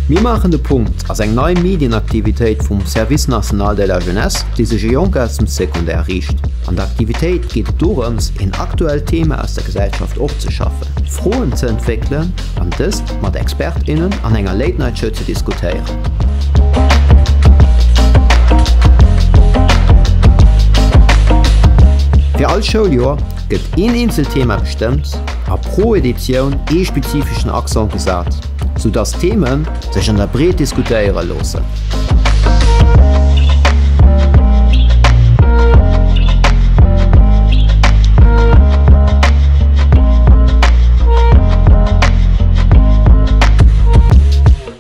Mir maachen de Punkt ass eng nei Medienaktivitéit vum Service National de la Jeunesse, déi sech u Jonk aus dem Secondaire riicht. An der Aktivitéit geet et dorëms, een aktuellt Thema aus der Gesellschaft opzeschaffen, Froen ze entwéckelen an dëst mat Expert, innen an enger Late-Night-Show ze diskutéieren. Fir all Schouljoer gëtt een eenzelt Thema bestëmmt a pro Editioun ee spezifeschen Accent gesat, sou dass d'Theme sech an der Breet diskutéiere loossen.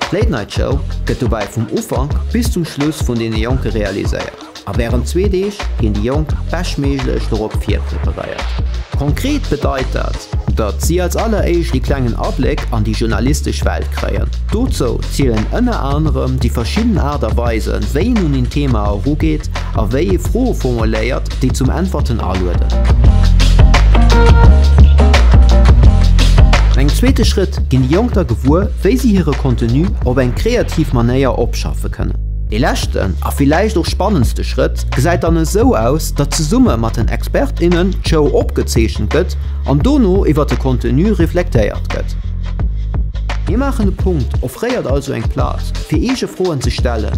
D'Late Night Show gëtt dobäi vum Ufank bis zum Schluss vun deene Jonke realiséiert a wärend zwee Deeg ginn déi Jonk beschtméiglech dorop virpreparéiert. Konkret bedeit dat, datt si als alleréischt ee klengen Abléck an déi journalistesch Welt kréien. Dozou zielen ënner anerem déi verschidden Aart a Weisen, wéi een un een Thema erugeet, a wéi ee Froe formuléiert, déi zum Äntwerten alueden. An engem zweete Schrëtt ginn déi Jonk da gewuer, wéi si hire Contenu op eng kreativ Manéier opschaffe kënnen. Ee leschten a villäicht och spannendste Schrëtt gesäit dann esou aus, datt zesumme mat den Expert, innen d'Show opgezeechent gëtt an dono iwwer de Contenu reflektéiert gëtt. Mir maachen e Punkt offréiert also eng Plaz, fir eege Froen ze stellen.